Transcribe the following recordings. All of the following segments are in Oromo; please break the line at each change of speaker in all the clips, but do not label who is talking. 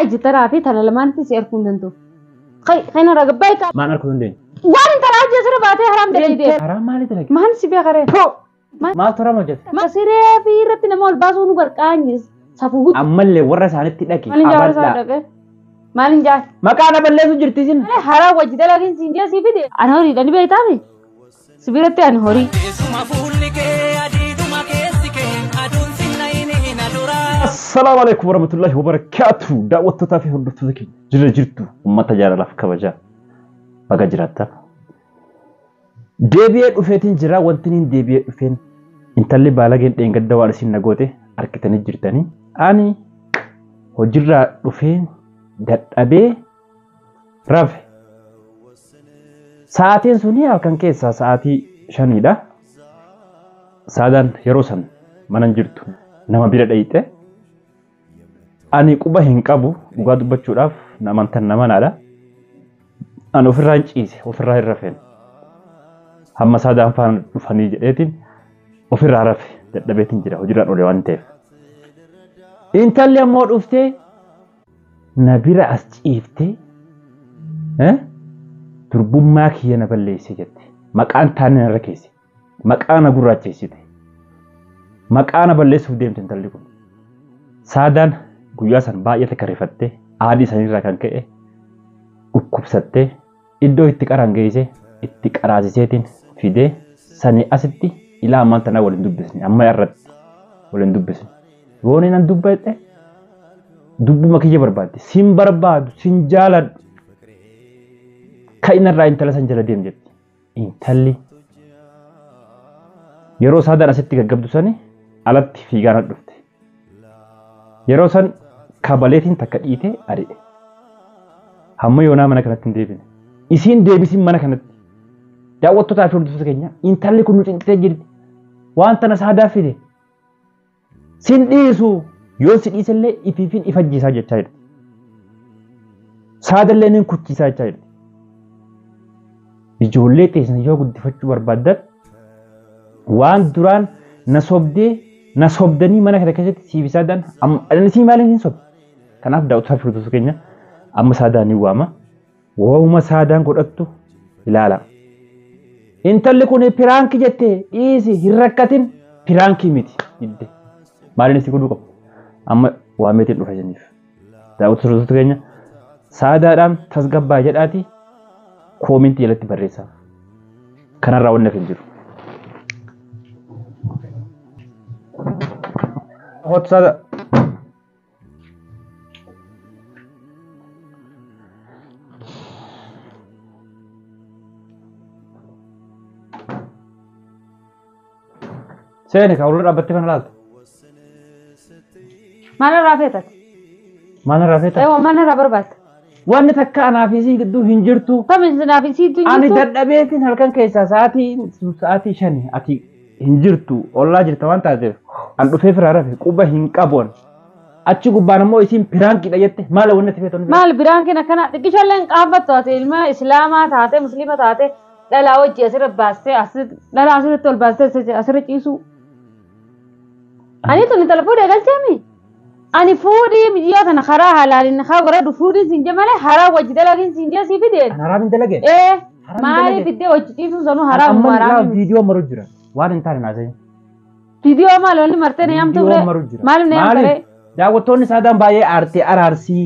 Iji taraa fi tana lamaanitti si arguu hin danda'u. Kan irraa gabbaa ikaa. Maan arguu dandeenyu?
Waan hin taraa hojii asirra
baatee haraam dalaydee. Karaa maalii dalage? Maan
si beekaree?
Maaltu haraam
hojjete? Siree fi
irratti nama ol baasuu nu garqaanyis. Safuu guutuu. Ammallee warra isaanitti
dhaqi. Maalin jaara isaa Abaddaa.
dhaqee? Maalin jaara? Maqaa na balleessu jirti
isin. Haraa wajji
dalagiin siin jee sii fide. Ana horiidha ni beektaami? Si biratti ani horii. Teessuma fuulli kee adiiduma keessi kee aduun
sinna inni na duraa. Assalaamu alaikum warahmatullahi wabarakatuh. Daawwattootaa fi hordoftoota keenya jira jirtu uummata jaalalaaf kabajaa baga jiraattan. Deebi'ee dhufeetiin jira wanti niin deebi'ee dhufeen intalli baalageen dheengadda waan isin nagoote argitanii jirtanii. Ani hojirraa dhufee dadhabee rafe. Sa'aatiin suni halkan keessaa sa'aatii shaniidha. Saadaan yeroo san mana hin jirtu nama bira dhayxe. Ani quba hin qabu dhugaa dubbachuudhaaf na amantan na manaadha. Ani ofirraa hin ciise ofirraa hin rafeen. Hamma saadaan faana dhufanii jedheetiin ofirraa rafe dadhabeetiin jira hojiirraan oole waan ta'eef. Intalli ammoo dhuftee na bira as ciiftee eh, durbummaa kiyya na balleesse jette. Maqaan taanne narra keesse. Maqaa na gurraacheessite. Maqaa na balleessuuf deemte intalli kun. Saadaan guyyaa san baay'ee takka rifattee aadii sanirraa kan ka'e dhukkubsattee Iddoo itti qaraan geessee itti qaraasiseetiin fidee sanii asitti ilaa ammaan tanaa wal hin dubbisne amma irratti wal hin dubbisne. Yoo inni nan dubbadhe dubbuma kiyya barbaaddi sin barbaadu sin jaaladhu ka'ina irraa intala san jala deem jetti. Intalli yeroo saadaan asitti gaggabdu sani alatti fiigaana dhufte. Yeroo san kabaleetiin takka dhiitee ari'e. Hamma yoonaa mana kanatti hin deebine. Isiin deebisiin mana kanatti. Daawwattotaa fi hordoftoota keenya intalli kun nu cinqitee jirti. Waan tana saadaa fide. Sin dhiisu yoo si dhiisellee ifiifin ifajjiisaa jechaa jirti. Saadallee nin kuchiisaa jechaa jirti. Ijoollee teessan yoo guddifachuu barbaaddan waan duraan na sobdee na sobdanii mana kana keessatti siif isaa daan amma anasii maaliin hin sobe. Kanaaf daawwataa fi hordoftoota keenya amma saadaan ni waama. Waa'uma saadaan godhattu ilaala. Intalli kun piraanki jette dhiisi hin rakkatin piraankii miti didde. Maaliin si godhuu qabu? Amma waameetiin dhufa isiniif. Daawwatu sirreessota keenya saadaadhaan tasgabbaa jedhaati koomintii jalatti barreessaa. Kanarraa wanni hin jiru. Hot saada. Seeni ka ulirra dhaabbattee kana laaltu.
Maalirraa feetati? Maalirraa feetaa? Eewwa maalirraa barbaadda? Wanni takka
anaa fi isii gidduu hin jirtu. Tamiin sinaa fi siitu
hin Ani jirtu? dadhabeetiin
halkan keessaa sa'aatii sa'aatii shani ati hin jirtu ollaa jirta waan taateef an dhufee firaa rafe quba hin qabuun. Achi gubbaan ammoo isiin piraankiidha jette maala wanni ati feetu. Maal biraan kina kana
xiqqishalleen qaanfattu ati ilma islaamaa taate musliima taate Dhalaa wajji asirra baastee asi- dhalaa asirratti ol baastee asi- asirra ciisuu. Ani tuni tala fuudhee galcheemi. Ani fuudhii biyyaa tana karaa halaalin haa godhadhu fuudhiin siin jee malee haraa wajji dalagiin siin jee sii fideen. Kan haraam hin dalageen. Ee
Haram maaliif dalage.
fiddee wajji ciisuun sanuu Kan haraam amma irraa haraam. viidiyoo maru
jira. Waan hin taane naasa'in. Viidiyoo
maal wanni martee na yaamtu Viidiyoo ture. maru jira. Maaliif na yaamtu Maaliif? ture? Daawwattoonni saadaan
baay'ee aartee araarsii.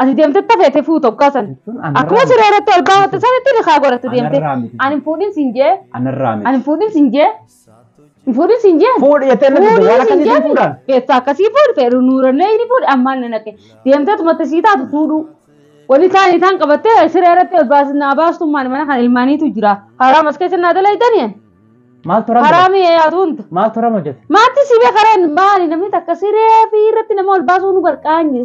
Ati deemtee tafeete fuutu oggaa san. Jechuun Akkuma anarraa miti. siree irratti ol baafatte sanitti nikaa godhatte deemte. Anarraa miti. Ani hin fuudhin siin jee. Anarraa Ani miti. hin fuudhin siin jee. Hin fuudhin siin jee. Fuudhi jettee natti Fuudhin waan siin
akkasiitiin jee. fuudhaan. Beessa akkasii fuudhi
feeru nuurallee ni fuudhi ammaan na naqe. Deemtee tumatte sii taatu fuudhuu. Wani isaan isaan qabattee siree irratti ol baasin naa baastummaan mana kana ilmaaniitu jira. Haraam as keessa naa dalaydani. Maaltu rama?
Haraamii yaatu hunta.
Maaltu rama jette?
Maatii si beekareen
maali namni takka siree fi irratti nama ol baasuu nu gargaara.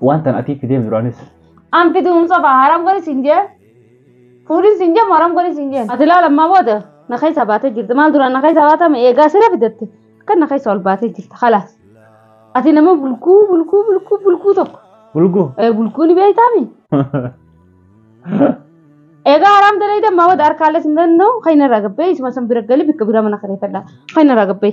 Waan tan atii fideef duraanis. An fiduun
soba haram godhi siin jee. Fuudhin siin jee haram godhi siin jeen. Ati laala ammaa booda na keessaa baatee jirti. Maal duraan na keessaa baata ma eegaa sira fidatte akka na keessaa ol baatee jirti kalaas. Ati nama bulguu bulguu bulguu bulguu tokko. Bulguu. Ee bulguu ni beektaami. Egaa haram dalaydee ammaa booda harkaallee siin danda'u kan inni irraa gabbee isuma san bira galii bikka bira mana kireeffadha. Kan inni irraa gabbee.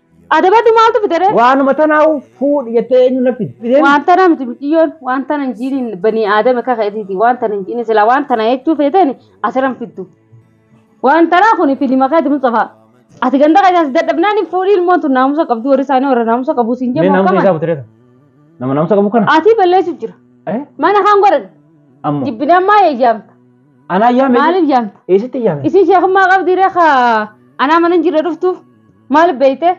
Adabadhu maaltu fidere? Waanuma tanaa'u
fuudhi jettee eenyu na fide? Waan tana miti miciyyoon
waan tana hin jiiniin banii aadama kaka isiiti waan tana hin jiiniin silaa waan tana jechuu feeteen asiran fiddu. Waan tanaa kun filima keeti Mustafaa. Ati ganda keessaa si dadhabnaan hin fuudhii ilmoon tun naamusa qabdu warri isaanii warra naamusa qabu siin Mee jedhamu naamusa isaa qaban. butireta.
Nama naamusa qabu kana. Ati balleessuuf jira.
Eh? Mana kan godhan Ammoo. jibbinee
ammaa eeyyaamta.
Anaa yaame.
Maaliif yaamta? Eessatti
yaame? Isin
sheekummaa qabdi
reekaa anaa mana hin jirre dhuftuuf. Maal beeyte?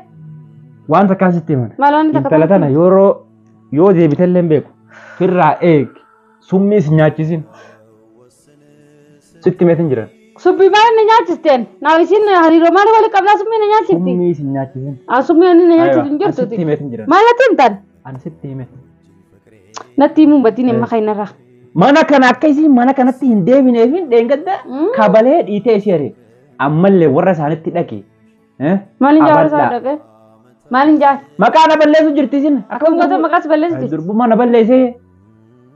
Waan
takkaan sitti himan. Maal waan takka Intala tana
yeroo
yoo deebite illee hin beeku. Firraa eeg. Summii si nyaachisin. Sitti meetin jiran. Subbii maal inni
nyaachisteen? Naa isiin hariiroo maal wali qabnaa summii na nyaachifti? Summii si nyaachisin. Aa
summii inni na nyaachisu
hin Ani sitti jirtuti. himeetin jiran. Maal natti
himtan? Ani
sitti hime. Natti himuun batiin himma keenyarraa. Mana kana akka
isiin mana kanatti hin deebineefin dheengadda Mm. kabalee dhiitee ishee ari'e. Ammallee warra isaanitti dhaqi. Eh? Maalin
jaara isaa Abaddaa. dhaqee? Maalin jaara? Maqaa na balleessu jirti
isin. Akkam goota maqaas balleessiti?
Durbummaa na balleessee.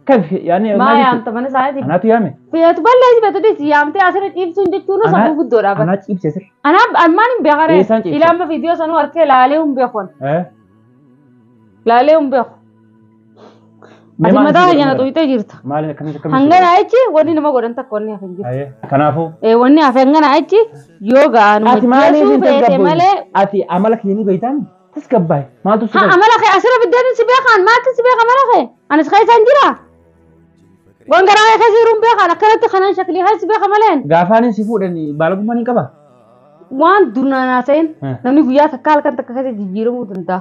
Kaf yaani Maa maaliif? yaamta mana isaaniitti?
Anaatu yaame. Feetu
balleessi feetu
dhiisi yaamtee asirra dhiibsuun jechuun Ana- safuu guddoodha. bara. Anaa ciibse sir.
Anaa almaan hin beekare.
Eessaan ciibsa? Ilaama viidiyoo sanuu harkee laalee hin beekon. Eh? Laalee hin beeku. Mee Ati maal mataa itti keenya na godhan? xuyxee jirta. Maal akkamitti akkamitti? Hangana
achi wanni nama
godhan takka wanni hafe hin jiru. Ayee, Kanaafuu Eh, Wanni
hafe hangana
achi yoo ga'an ati maaliif hojjeesuu hin feete
tasgabboofne? malee Ati amala kee ni beektaan tasgabbaa'e. Maaltu si ha godhe? amala kee asirra biddeen si
beekaan maaltu si beeka amala kee anis keessaan jira. Waan garaa kee keessa jiruun beekaan akkanatti kanaan shaklii haa si beeka maleen. Gaafaanin si fuudhan
baalagummaa ni qaba. Waan
durnaan haasa'in Eh. namni guyyaa takka halkan takka keessa jijjiiramuu danda'a.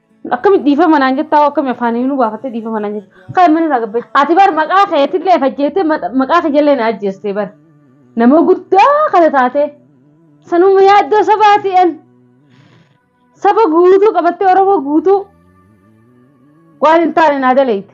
Akkami dhiifama naan jettaa hoo akkami afaaniin nu baafattee dhiifama naan jetta. Kaa mana irraa gabbee. Ati bar maqaa keetillee fajjeettee ma- maqaa kijallee na ajjeestee bar. Nama guddaa kana taatee. Sanuma yaaddoo sabaati an. Saba guutuu qabattee Oromoo guutuu waan hin taane naa daleeyte.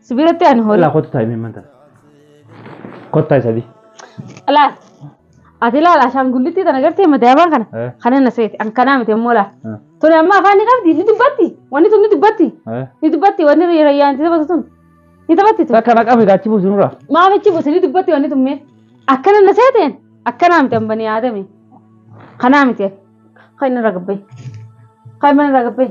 Si biratti ani horii. Ilaa kottu taa'imee manta.
Kottaa isa di. Laal.
Ati laal ashaangullittii tana gartee madaabaan kana. Eh. Kana na seeti. An kanaa miti immoo laal. Eh. Tuni amma afaan ni qabdi. Ni dubbatti. Wanni tun ni dubbatti. Eh. Ni dubbatti. Wanni rayyaan itti taphatu tun. Ni taphatti tun. Takka naqame gaachi buusu nurraa.
Maamichi buusi ni dubbatti
wanni tun mee. Akkana na seeteen. Akkanaa miti amma ni yaadame. Kanaa miti. Kan inni irra gabbee. Kan inni irra gabbee.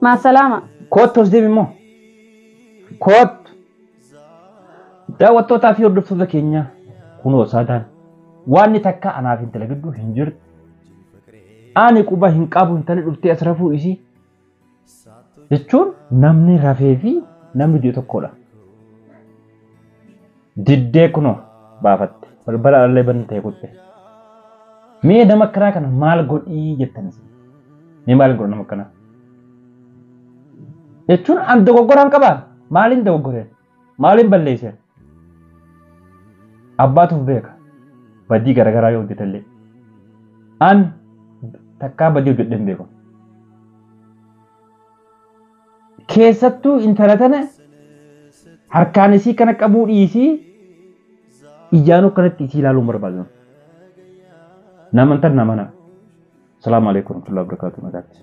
Maasalaama. Koottu as deemi immoo.
Koottu. Daawwattootaa fi hordoftoota keenyaa kunoo saadaan waanni takka anaaf intala gidduu hin jirtu. Ani quba hin qabu intalli dhuftee as rafuu isii. Jechuun namni rafee fi namni du'e tokkodha. Diddee kunoo baafatte. Balbala alallee bantee kutte. Mee nama akkanaa kana maal godhii jettan isin? Mee maal godha nama akkanaa? Jechuun an dogoggoraan qabaa? Maaliin dogoggoreen? Maaliin balleesseen? Abbaatuuf beeka. Badii garaagaraa yoo hojjetallee. An takkaa badii hojjedheen beeku. Keessattuu intala tana harkaan isii kana qabuu dhiisii ijaanuu kanatti isii ilaaluu hin barbaadu namni. Naman tan namana. Salaamu Aleeykum Warahmatullahi Wabarakaatuh nagaatti.